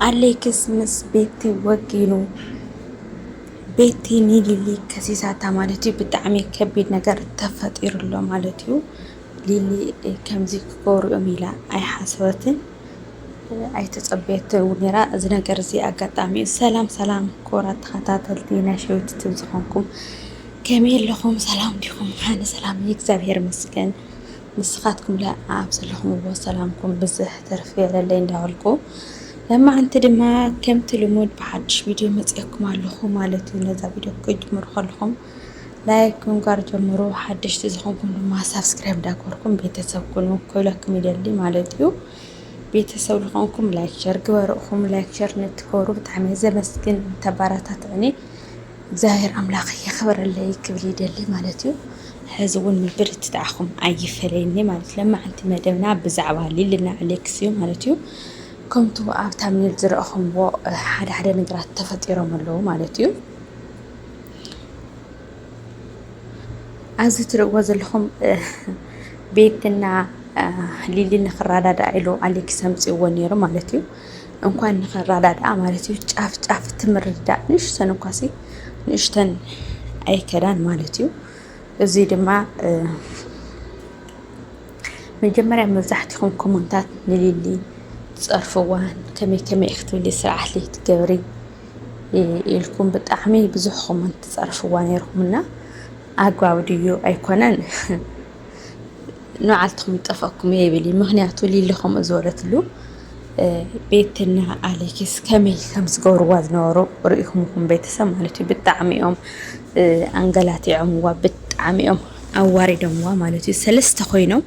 ኣሌክስ ምስ ቤቲ ወጊኑ ቤቲ ንሊሊ ከሲሳታ ማለት እዩ። ብጣዕሚ ከቢድ ነገር ተፈጢሩ ኣሎ ማለት እዩ። ሊሊ ከምዚ ክገብሩ እዮም ኢላ ኣይሓሰበትን ኣይተፀበየትን ነይራ እዚ ነገር እዚ ኣጋጣሚ እዩ። ሰላም ሰላም ክቡራት ተኸታተልቲ ናይ ሸዊት ትብ ዝኾንኩም ከመይ ኣለኹም? ሰላም ዲኹም? ኣነ ሰላም እዩ፣ እግዚኣብሄር ይመስገን። ንስኻትኩም ለኣኣብ ዘለኹምዎ ሰላምኩም ብዝሕ ትርፍ ይበለለይ እንዳበልኩ ለማዓንቲ ድማ ከምቲ ልሙድ ብሓድሽ ቪድዮ መፅኤኩም ኣለኹ ማለት እዩ ነዛ ቪድዮ ክጅምሩ ከለኹም ላይክ ምንጓር ጀምሩ ሓደሽቲ ዝኾንኩም ድማ ሳብስክራይብ እንዳገበርኩም ቤተሰብ ኩኑ ክብለኩም ይደሊ ማለት እዩ ቤተሰብ ዝኾንኩም ላይክ ሸር ግበሩ እኹም ላይክ ሸር ንትኮሩ ብጣዕሚ ዘመስግን ተባራታትዕኒ እግዚኣብሔር ኣምላክ የክብረለይ ክብል ይደሊ ማለት እዩ ሐዚ እውን ምብርትታዕኩም ኣይፈለየኒ ማለት ለማዓንቲ መደብና ብዛዕባ ሊልና ኣሌክስ እዩ ማለት እዩ ከምቱ ኣብ ታምኔል ዝረእኹምዎ ሓደ ሓደ ነገራት ተፈጢሮም ኣለዉ ማለት እዩ ኣብዚ ትርእዎ ዘለኹም ቤትና ሊሊ ንክረዳዳእ ኢሉ ኣሌክስ ኣምፅዎ ነይሩ ማለት እዩ እንኳን ንኸራዳድኣ ማለት እዩ ጫፍ ጫፍ እቲ ምርድዳእ ንእሽተን እኳሲ ንእሽተን ኣይከዳን ማለት እዩ። እዚ ድማ መጀመርያ መብዛሕትኹም ኮመንታት ንሊሊ ትፀርፍዋን ከመይ ከመይ ክትብሊ ስርዓት ትገብሪ ኢልኩም ብጣዕሚ ብዙሕ ኮመንት ትፀርፍዋ ነይርኩምና ኣግባብ ድዩ ኣይኮነን ንባዓልትኹም ይጠፍኣኩም እየ ይብል እዩ ምክንያቱ ሊሊ ከምኡ ዝበለትሉ ቤትና ኣሌክስ ከመይ ከም ዝገብርዋ ዝነበሩ ርኢኹም ኹም ቤተሰብ ማለት እዩ ብጣዕሚ እዮም ኣንገላቲዖምዋ ብጣዕሚ እዮም ኣዋሪዶምዋ ማለት እዩ ሰለስተ ኮይኖም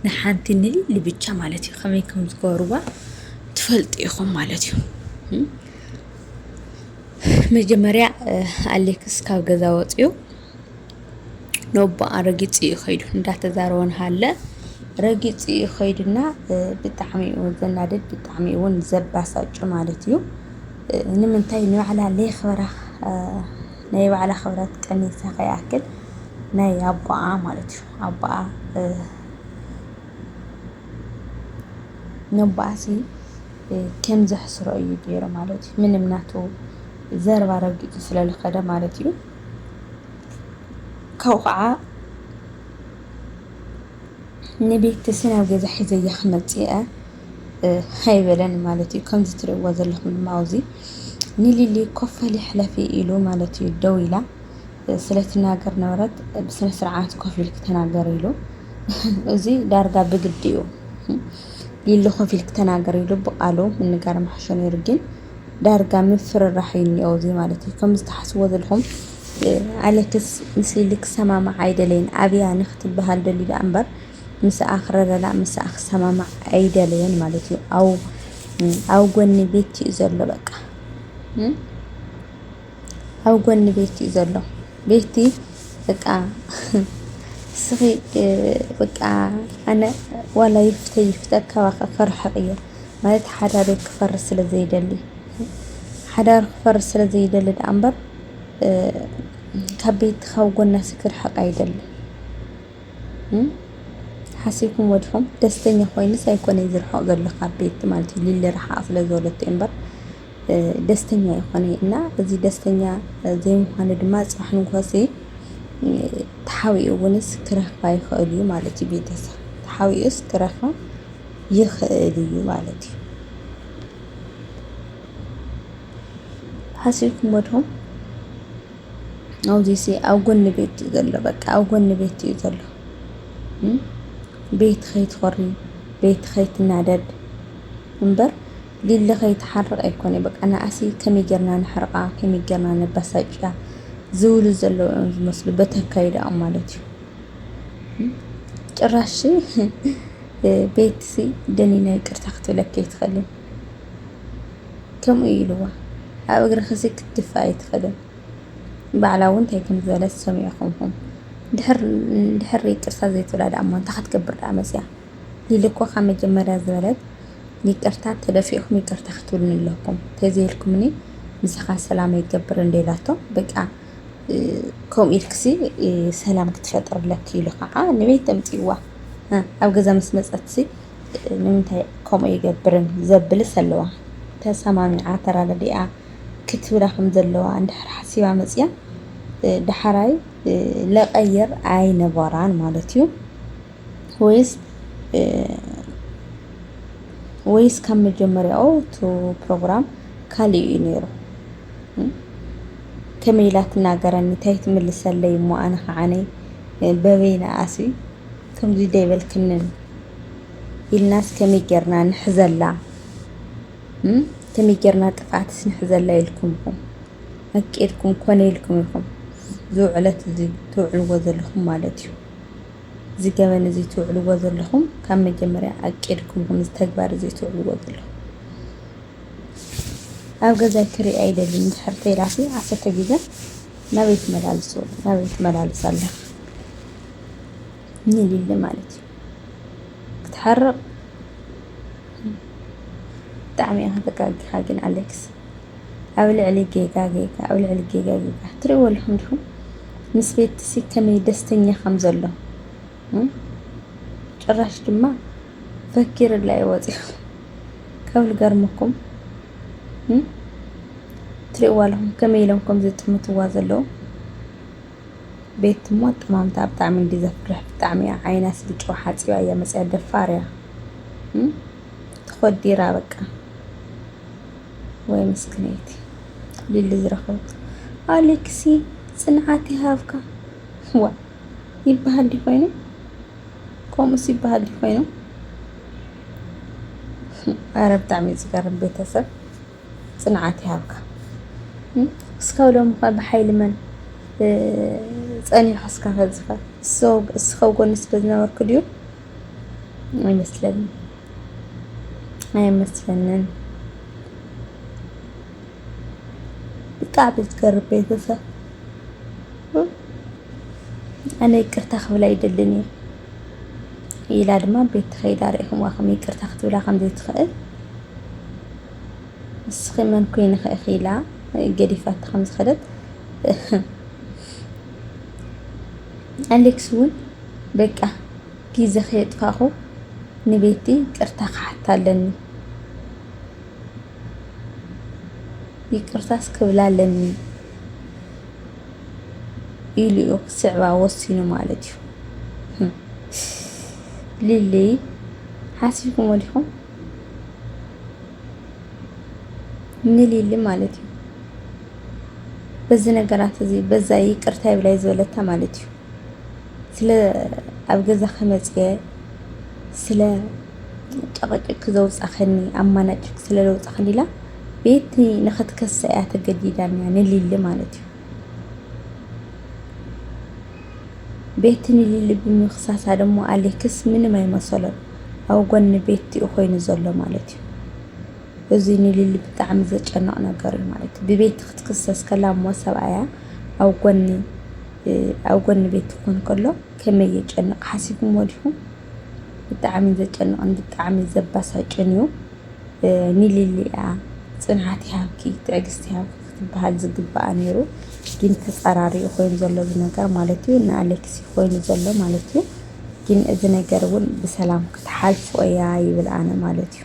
ንሓንቲ ንሊሊ ብቻ ማለት እዩ ከመይ ከም ዝገብርዋ ትፈልጡ ኢኹም ማለት እዩ መጀመርያ ኣሌክስ ካብ ገዛ ወፅኡ ነቦኣ ረጊፁ እዩ ከይዱ እንዳተዛረበ እናሃለ ረጊፁ እዩ ከይዱ እና ብጣዕሚ እዩ ዘናድድ ብጣዕሚ እዩ እውን ዘባሳጩ ማለት እዩ። ንምንታይ ንባዕላ ለይኽብራ ናይ ባዕላ ክብረት ቀኒሳ ከይኣክል ናይ ኣቦኣ ማለት እዩ ኣቦኣ ነቦኣሲ ከም ዘሕስሮ እዩ ገይሩ ማለት እዩ። ምንም ናቱ ዘረባ ረጊፁ ስለዝኸደ ማለት እዩ። ካብኡ ከዓ ንቤተሰብ ናብ ገዛ ሒዘያ ክመፅእ እየ ኣይበለን ማለት እዩ። ከምዚ ትርእይዎ ዘለኹም ድማ ኣብዚ ንሊሊ ኮፍ በሊ ሕለፊ ኢሉ ማለት እዩ ደው ኢላ ስለትናገር ነበረት ብስነ ስርዓት ኮፍ ኢልኪ ተናገሪ ኢሉ እዚ ዳርጋ ብግዲ እዩ ሊሊ ኮፍ ኢልኪ ተናገሪ ኢሉ ብቃሉ ምንጋር ምሓሾ ነይሩ ግን ዳርጋ ምፍርራሕ እዩ እኒኦ እዚ ማለት እዩ ከምዚ ትሓስብዎ ዘለኹም ኣለክስ ምስሊ ኢሊ ክሰማማዕ ኣይደለየን ኣብያ ንክትበሃል ደልዩ ደኣ እምበር ምስኣ ክረዳዳእ ምስኣ ክሰማማዕ ኣይደለየን ማለት እዩ ኣው ኣብ ጎኒ ቤቲ እዩ ዘሎ በቃ ኣብ ጎኒ ቤቲ እዩ ዘሎ ቤቲ በቃ እስኺ በቃ ኣነ ዋላ ይፍተ ይፍተ ካባኺ ክርሕቕ እየ ማለት ሓዳሩ ክፈርስ ስለ ዘይደሊ ሓዳሩ ክፈርስ ስለ ዘይደሊ ደኣ እምበር ካብ ቤት ካብ ጎናሲ ክርሕቕ ኣይደልን። ሓሲብኩሞ ዲኹም? ደስተኛ ኮይኑስ ኣይኮነይ ዝርሕቕ ዘሎ ካብ ቤት ማለት እዩ ሊሊ ርሓቕ ስለ ዝበለቶ እዩ እምበር ደስተኛ ይኾነ እና እዚ ደስተኛ ዘይምዃኑ ድማ ፅባሕ ንጎሆሲ ተሓቢኡ እውንስ ክረኽባ ይኽእል እዩ ማለት እዩ ቤተሰብ ተሓቢኡስ ክረኽባ ይኽእል እዩ ማለት እዩ። ሓሲብኩሞ ዶ ኣብዚሲ ኣብ ጎኒ ቤት እዩ ዘሎ በቃ ኣብ ጎኒ ቤት እዩ ዘሎ ቤት ከይትኾሪ ቤት ከይትናደድ እምበር ሊሊ ከይትሓርቕ ኣይኮነ በቃ ንኣሲ ከመይ ጌርና ንሕርቓ ከመይ ጌርና ነባሳጭያ ዝብሉ ዘለዉ እዮም ዝመስሉ በተካይዳኦም ማለት እዩ ጭራሽ ቤትሲ ደኒና ይቅርታ ክትብለኪ ኣይትኽእልን ከምኡ እዩ ኢልዋ። ኣብ እግርኺሲ ክትድፍኢ ኣይትኽእልን። ባዕላ እውን እንታይ ከም ዝበለት ሰሚዕኹም ኢኹም። ድሕር ይቅርታ ዘይትብላ ደኣሞ እንታይ ክትገብር ደኣ መፂኣ? ሊሊ እኮ ካብ መጀመርያ ዝበለት ይቅርታ ተደፊእኹም ይቅርታ ክትብሉኒ ኣለኩም ተዘይልኩምኒ ምሳኻ ሰላም ኣይገብርን እንዶ ኢላቶ በቃ ከምኡ ኢልክሲ ሰላም ክትፈጥርለኪ ኢሉ ከዓ ንበይ ተምፅእዋ ኣብ ገዛ ምስ መፀትሲ ንምንታይ ከምኡ ይገብርን ዘብልስ ኣለዋ ተሰማሚዓ ተራዳዲኣ ክትብላ ከም ዘለዋ እንድሕር ሓሲባ መፅያ ዳሕራይ ለቐይር ኣይነበራን ማለት እዩ ወይስ ወይስ ካብ መጀመርያኡ እቲ ፕሮግራም ካልእ እዩ ነይሩ ከመይ ኢላ ትናገረኒ ታይ ትምልሰለይ እሞ ኣነ ከዓነይ በበይ ነኣሲ ከምዙይ ደይበልክንን ኢልናስ ከመይ ጌርና ንሕዘላ ከመይ ጌርና ጥፍኣትስ ንሕዘላ ኢልኩም ኢኹም ኣቂድኩም ኮነ ኢልኩም ኢኹም ዝውዕለት እዚ ትውዕልዎ ዘለኹም ማለት እዩ እዚ ገበን እዚ ትውዕልዎ ዘለኹም ካብ መጀመርያ ኣቂድኩም ኢኹም እዚ ተግባር እዚ ትውዕልዎ ዘለኹም ኣብ ገዛይ ክሪኦ ኣይደልን እንድሕር ተይላሲ ዓሰርተ ግዜ ናበይ ትመላልሶ ናበይ ትመላልስ ኣለኽ ንሊሊ ማለት እዩ ክትሓርቕ ብጣዕሚ ኢኻ ተጋጊኻ ግን ኣሌክስ ኣብ ልዕሊ ጌጋ ጌጋ ኣብ ልዕሊ ጌጋ ጌጋ ትሪእዎ ኣለኹም ዲኹም ምስ ቤትሲ ከመይ ደስተኛ ከም ዘሎ ጭራሽ ድማ ፈኪርላ እዩ ወፂኡ ካብ ልገርመኩም ትሪእዋ ኣለኹም ከመይ ኢሎም ከም ዝጥምትዋ ዘለዉ ቤት እሞ ኣጠማምታ ብጣዕሚ እንዲ ዘፍርሕ ብጣዕሚ እያ ዓይና ስልጮ ሓፂባ እያ መፅያ ደፋር እያ ተኾዲራ በቃ ወይ ምስክነይቲ ሊሊ ዝረኸብት ኣሌክሲ ፅንዓት ይሃብካ ዋ ይበሃል ድዩ ኮይኑ ከምኡስ ይበሃል ድዩ ኮይኑ ኣረ ብጣዕሚ እዩ ዝገርም ቤተሰብ ፅንዓት ይሃብካ እስካብ ሎሚ ኸ ብሓይሊ መን ፀኒሑ እስከ ከዝኸ እስከ ጎኒ ስለ ዝነበርኩ ድዩ ኣይመስለንን ኣይመስለንን ብጣዕሚ ዝገርም ቤተሰብ ኣነ ይቅርታ ክብላ ይደልን እዩ ኢላ ድማ ቤት ተኸይዳ ርኢኹምዋ ከም ይቅርታ ክትብላ ከምዘይትኽእል ንስኺ መን ኮይንኺ ኢኺ ኢላ ገዲፋታ ከም ዝኸደት ኣሌክስ እውን በቃ ግዜ ከየጥፋኹ ንቤቲ ቅርታ ክሓታ ኣለኒ ይቅርታስ ክብላ ኣለኒ ኢሉ'ዩ ክስዕባ ወሲኑ ማለት እዩ። ሊሊ ሓሲብኩሞ ዲኹም? ንሊሊ ማለት እዩ በዚ ነገራት እዚ በዛ ይቅርታ ይብላይ ዝበለታ ማለት እዩ ስለ ኣብ ገዛ ከመፅየ ስለ ጨቕጭቂ ዘውጻኸኒ ኣማናጭክ ስለ ለውጻኸኒ ኢላ ቤቲ ንኽትከሳ እያ ተገዲዳ ኒያ ንሊሊ ማለት እዩ። ቤቲ ንሊሊ ብምኽሳሳ ደሞ ኣሌክስ ምንም ኣይመሰሎን ኣብ ጎኒ ቤቲ እዩ ኮይኑ ዘሎ ማለት እዩ። እዚ ንሊሊ ብጣዕሚ ዘጨንቕ ነገር እዩ ማለት እዩ። ብቤቲ ክትክሰስ ከላ እሞ ሰብኣያ ኣብ ጎኒ ኣብ ጎኒ ቤቲ ክኾን ከሎ ከመይ የጨንቕ ሓሲብኩሞ ዲኹም? ብጣዕሚ ዘጨንቕን ብጣዕሚ ዘባሳጭን እዩ። ንሊሊ እያ ፅንዓት ይሃብኪ ትዕግስቲ ይሃብኪ ክትበሃል ዝግበኣ ነይሩ ግን ተፃራሪኡ ኮይኑ ዘሎ እዚ ነገር ማለት እዩ ንኣሌክሲ ኮይኑ ዘሎ ማለት እዩ ግን እዚ ነገር እውን ብሰላም ክትሓልፎ እያ ይብል ኣነ ማለት እዩ።